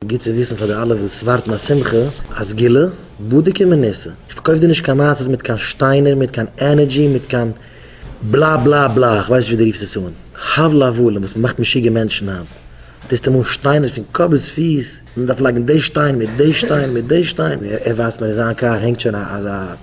גוט צו וויסן פאר די אלע וואס ווארטן א שמחה, א סגולה, בדוק ומנוסה, איך פארקויף דיר נישט קיין מעשות מיט קיין שטיינער, מיט קיין ענערדזשי, מיט קיין בלא בלא בלא, כ'ווייס נישט ווי דו רופסט עס אן, הבל הבלים וואס מ'מאכט משוגע מענטשן היינט, טוסט אים אן שטיינער פון קאפ ביז פיס, מען דארף לייגן די שטיין מיט די שטיין מיט די שטיין, ער ווייזט מיר אין זיין קאר הענגט שוין א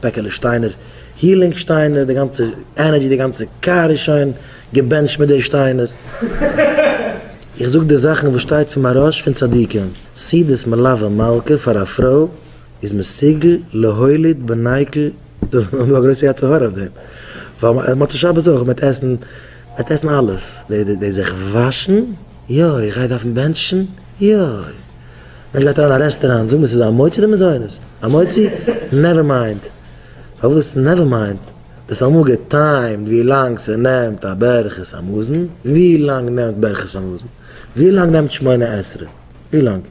פעקעלע שטיינער, הילינג שטיינער, די גאנצע ענערדזשי, די גאנצע קאר איז שוין געבענטשט מיט די שטיינער. איך זאג די זאכן וואס שטייט פון מהרש פון צדיקים, סעודת מלווה מלכה פאר א פרוי איז מסוגל להוליד בנייקל האבן א גרויסע יצר הרע אויף דעם, ווייל מוצאי שבת אויך מען וועט עסן מען וועט עסן אלעס, די זיך וואשן, יוי איך גיי דארפן בענטשן, יוי מענטש גייט אריין א רעסטעראנט זאג מיר ס'איז א מוצאי אדער מזונות, א מוצאי? נעווער מיינד, פארוואס נעווער מיינד? דאס האט אמאל געטיימט ווי לאנג ס'נעמט א ברכת המזון, ווי לאנג נעמט ברכת המזון? ווי לאנג נעמט שמונה עשרה? ווי לאנג?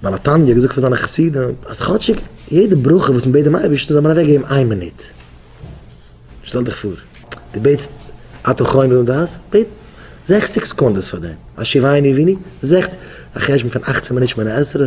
בעל התניא האט געזאגט פאר זיינע חסידים אז כאטשיג יעדע ברכה וואס מ'בעט דעם אייבערשטן זאל מען אוועק געבן איין מינוט. שטעל דיך פאר, דו בעטסט אתה חונן לנו דעת, בעט זעכציג סעקונדעס פאר דעם, השיבני עניני, זעכציג, א חשבון פון אכצן מינוט שמונה עשרה?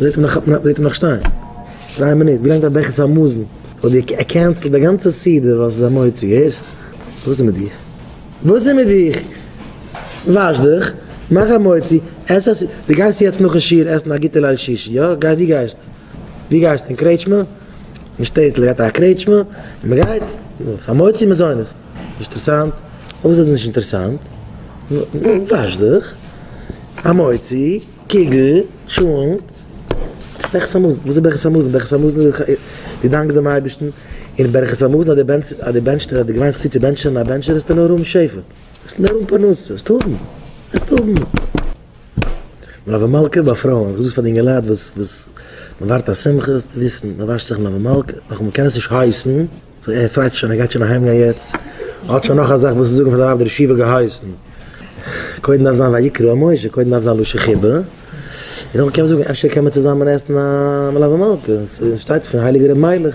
זעט אים נאך זעט אים נאך שטיין דריי מינוט געלערנט א ברכת המזון האט דיר קענסלד די גאנצע סדר וואס איז א מוצאי הערסט וואס איז מיט דיך וואס איז מיט דיך וואש דיך מאך א מוצאי עס א סדר די גייסט יעצט נאכן שיעור עסן א גוטע ליל שישי יא גיי ווי גייסט ווי גייסט אין קרעטשמע אין שטעטל גייט א קרעטשמע און מען גייט פאר מוצאי מזונות נישט אינטערסאנט אויב איז עס נישט אינטערסאנט וואש דיך א מוצאי. קוגל, טשולנט, ברכת המזון, וואס איז ברכת המזון? ברכת המזון איז דאך דו דאנקסט דעם אייבערשטן, און ברכת המזון אז דער דער בענטשטער האט דיר געוויינט זיך צו צו בענטשען, א בענטשער וועסטו נאר האבן שפע, וועסט נאר האבן פרנסה, וועסט האבן, וועסט האבן. מלוה מלכה ביי פרויען, איך האב געזאגט פאר די אינגעלייט וואס וואס מ'ווארט א שמחה זאלסטו וויסן, מ'וואשט זיך מלוה מלכה, נאכמער מ'קען עס נישט הייסן, ער פרייט זיך שוין ער גייט שוין אהיים גיין יעצט, ער האט שוין נאך א זאך וואס צו זאגן פאר זיין ווייב דער רב שיבא געהייסן, קודם דארף זיין ויקרא משה, קודם דארף זיין לשה ח ב, און נאכדעם קען מען זאגן אפשר קען מען צוזאמען עסן א מלוה מלכה, ס'שטייט פון הייליגער ר' מיילעך.